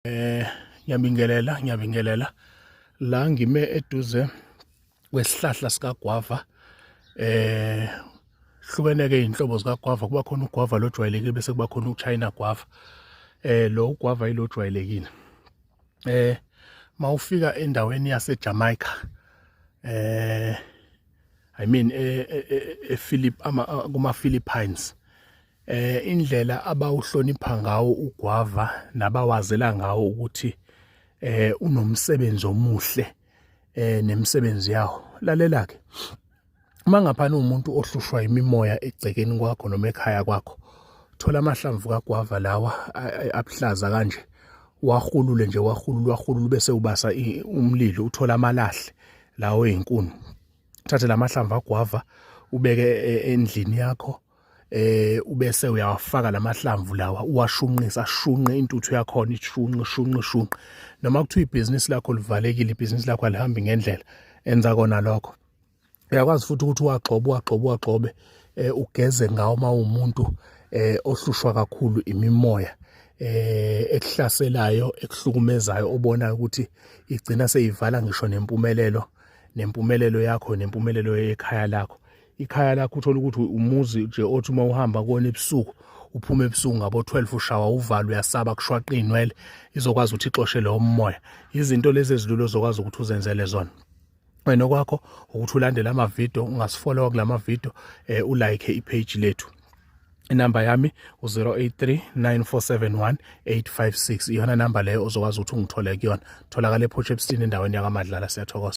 eh ngiyabingelela ngiyabingelela la ngime eduze kwesihlahla sikagwava eh hlukeneke izinhlobo zikagwava kuba khona ugwava lojwayelekile bese kuba khona uchina gwava eh lo ugwava ilojwayelekile eh mawufika endaweni yaseJamaica eh i mean ePhilip eh, eh, eh, ama kuma Philippines eh indlela abawuhlonipha ngawo ugwava nabawazela ngawo ukuthi eh unomsebenzi omuhle eh nemisebenzi yawo lalela ke uma ngaphana umuntu ohlushwa imimoya egcekeni kwakho noma ekhaya kwakho thola amahlamvu kagwava lawa abuhlaza kanje wahulule nje wahulule wahulule bese ubasa umlilo uthola amalahle lawo ezinkuni thathe lamahlamvu agwava ubeke e, endlini yakho eh ubese uyawafaka lamahlamvu lawa uwashunqisa ashunqe intuthu yakhona ishunqe shunqe shunqe noma kuthiwa ibhizinisi lakho livalekile ibhizinisi lakho alihambi ngendlela enza kona lokho uyakwazi futhi ukuthi uwagxobe uwagxobe uwagxobe eh ugeze ngawo uma umuntu eh ohlushwa kakhulu imimoya eh ekuhlaselayo ekuhlukumezayo obonayo ukuthi igcina seyivala ngisho nempumelelo nempumelelo yakho nempumelelo yekhaya lakho ikhaya lakho uthole ukuthi umuzi nje othi uma uhamba kona ebusuku uphuma ebusuku ngabo 12 ushawa uvala uyasaba kushwaqa inwele izokwazi ukuthi ixoshele umoya izinto lezi ezilulo zokwazi ukuthi uzenzele zona wena kwakho ukuthi ulandele ama video ungasifollow kulama video eh, u like i page lethu inamba yami u-083-9471-856 iyona namba leyo ozokwazi ukuthi ungithole kuyona tholakala ephotshepstini endaweni yakamadlala siyathokoza